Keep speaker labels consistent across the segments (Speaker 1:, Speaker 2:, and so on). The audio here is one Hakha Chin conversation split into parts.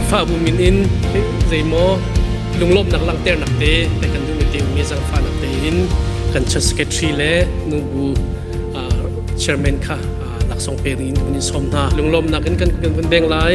Speaker 1: Khrihfabu min in zeimaw lunglawmhnak langhternak te le kan duhmi teumi zangfahnak tein kan church secretary le nubu chairman kha laksawng pe rin kan in sawm hna lunglawmnak in kan kan veng lai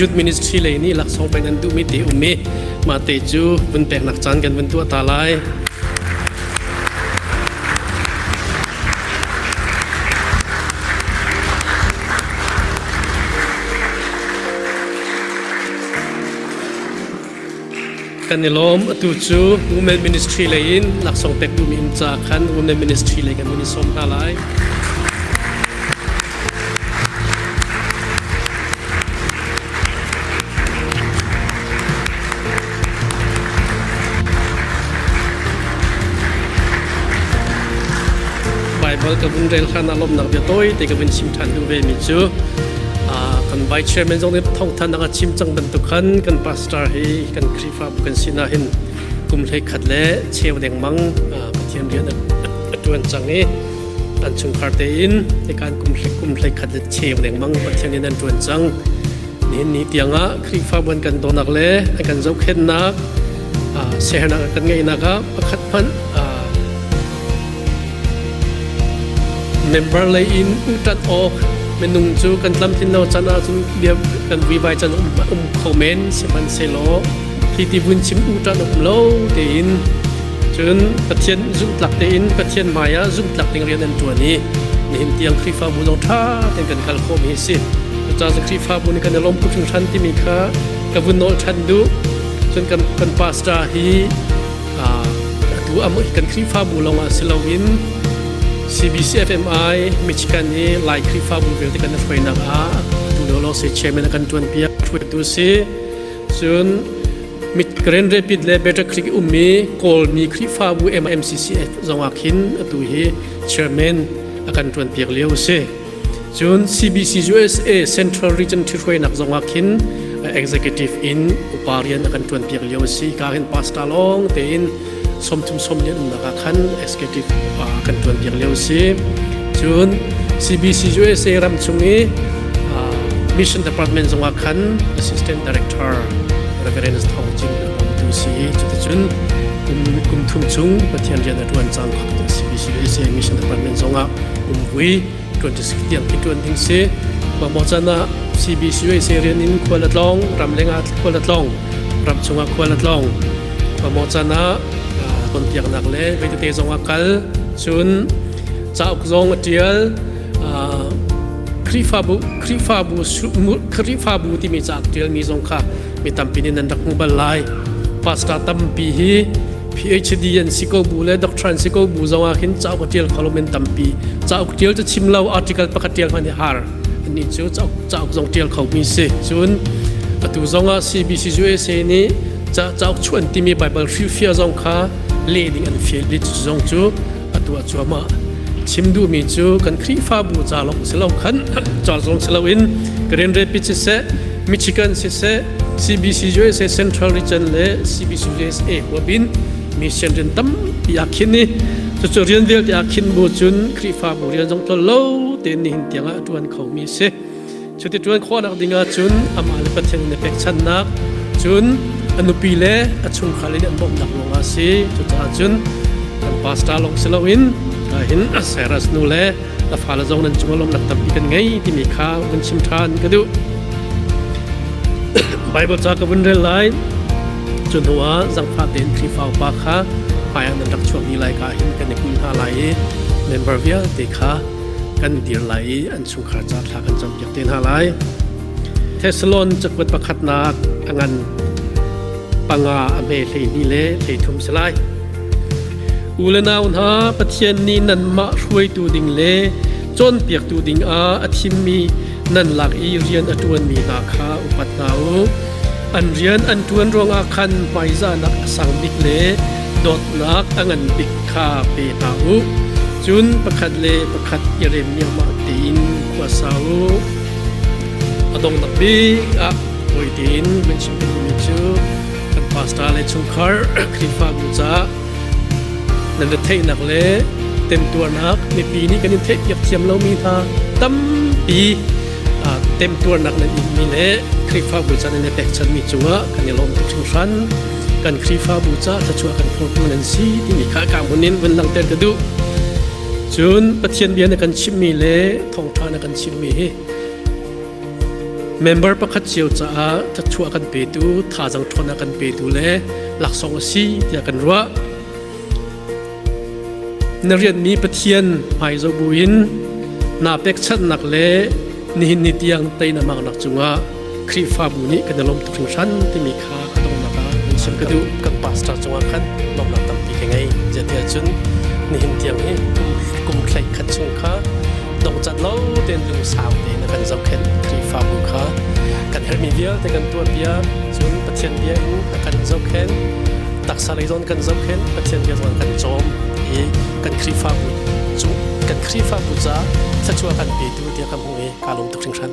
Speaker 1: Youth Ministry lei nih laksawng pek an duhmi te um i mah te cu vun peknak caan kan vun tuah ta lai. kan i lawm. Atu cu Women Ministry lei in laksawng pek duhmi inn caah khan Women Ministry lei kan hun i sawm hna lai. Baibal ka vun rel khan a lawmhnak bia tawite ka vun chim ṭhan duh vemi cu kan vice chairman zong nih thawngthan dang a chim cang bantuk khan kan pastor hi kan khrihfabu kan sinak hin kum hlei khat le cheu dengmang pathian rian a tuan cang i an chungkhar tein ikan kum hlei kum hlei khat le cheu dengmang pathian in an tuan cang nihin ni tiangah khrihfabu an kan donak le an kan zohkhennak sehernak kan ngeihnak ah pakhat hmanh Member lei in ṭanh awk minung cu kan tlamtlin lo can ahcun bia kan vuivai can um, um kho men sihmanhsehlaw hi ti vun chim u ṭanh um lo tein cun Pathian zumhtlak tein Pathian hmaiah zumhtlak ding rian an ṭuan i nihin tiang Khrihfabu zong ṭha tein kan kal khawhmi hi si cucaah Khrihfabu nih kan i lawm phu hringhran timi kha ka vun nawl ṭhan duh cun kan, kan pastor hi atu am kan Khrihfabu lawngah si loin CBCFMI Michigan i Lai Khrihfabu vialte kan hruainak ah tu lio lawng si chairman a kan ṭuanpiak hruaitu si cun mit Grand Rapid le Better Click ummi Kawlmi Khrihfabu MMCCF zongah khin atu hi chairman a kan ṭuanpiak lio si. Cun CBC-USA Central Region ṭhihruainak zongah khin executive in upa rian a kan ṭuanpiak lio a si. Ka hin pastor lawng tein sawmthum sawm lian umnak ah khan executive upa kan ṭuanpiak lio a si. Cun CBC-USA ram chung i mission department zongah khan assistant director Reverend Thawng Jing a umtu si. Cuticun kum thum chung Pathian rian a ṭuan cang kho CBC-USA mission department zongah kumkui 26 tiang khi ṭuan ding si mamawh can ah CBCUSA rian in khual a tlawng ram leng ah khual a tlawng ram chungah khual a tlawng mamawh can ah tonpiaknak le veitete zong a kal cun cauk zong a ṭial Khrihfabu Khrihfabu Khrihfabu timi cauk ṭialmi zong kha mi tampi nih nan rak hmu bal lai pastor tampi hi PhD an si ko bu le doctor an si ko bu zong ah khin cauk a tial kho lo men tampi cauk tial cu chim lo article pakhat tial hman hi har ani cu cauk cauk zong tial kho mi si cun atu zong ah CBC USA nih cauk chuan timi Bible hrilfia zong kha le ding an fial mi zong cu a tuah cuahmah chim duhmi cu kan khrihfabu ca lawng si lo khan ca zong si loin Karen Rapids siseh Michigan siseh CBCUSA Central Region le CBCUSA huabin mission rian tampi a khin i cucu rian vialte a khin bu cun khrihfabu rian zong tol lo tein nihin tiang ah a ṭuan khomi a si Cuti ṭuan khawhnak ding ahcun amah le Pathian in i pekchanhnak, cun a nupi le a chungkhar in an bawmhnak ruangah a si. Cucaah cun kan pastor lawng si loin hin Cyrus nu le na fale zong nan cungah lawmnak tampi kan ngei timi kha vun chim ṭhan ka duh. Baibal ca ka vun rel lai. Cu hnuah zangfah tein Khrihfa upa kha hmaiah nan rak chuahmi lai ka hin kan i pil hna lai i member vialte kha kan dir lai i an chungkhar ca thla kan campiak te hna lai. Thessalon cakuat pakhatnak a ngan panga a hme hleihnih le hleithum si lai. U le nau hna Pathian nih nanmah hruaitu ding le cawnpiaktu ding ah a thimmi nan lak i rian a ṭuanmi hna kha upat hna u. An rian an ṭuan ruangah khan hmaizahnak a sang bik le dawtnak a ngan bik kha pe hna u. Cun pakhat le pakhat i rem niamah tein khua sa u. A donghnak bik ah fawi tein min chim mi cu kan pastor le chungkhar Khrihfabu caah nan retheihnak le temtuarnak mipi nih kan in theihpiak thiam lomi hna tampi temtuarnak nan inmi le Khrihfabu caan in i pekchanmi cungah kan i lawm tuk hringhran. kan Khrihfabu caah thluachuah kan phurtu nan si timi kha ka hmun in vun langhter ka duh. Cun Pathian bia na kan chimhmi le thawngṭha na kan chimhmi hi member pakhat cio caah thluachuah kan petu, thazang ṭhawn kan petu le laksawng a si tiah kan ruah. Na rianmi Pathian hmai zobu in naa pekchanhnak le nihin ni tiang tei na maknak cungah Khrihfabu nih kan i lawm tuk hringhran timi kha ka donghnak ah an chim ka duh. Kan pastor cungah khan lawmnak tampi ka ngei. Zeitiah cun nihin tiang hi kum, kum thleih khat chung kha dongcat lo tein lungsau tein kan zohkhenh Khrihfabu kha kan herhmi vialte kan tuahpiak cun Pathian bia in a kan zohkhenh taksa lei zawn kan zohkhenh Pathian bia zawn kan cawm i kan Khrihfabu cung kan Khrihfabu ca thluachuah kan petu tiah kan hmuh i ka lawm tuk hringhran.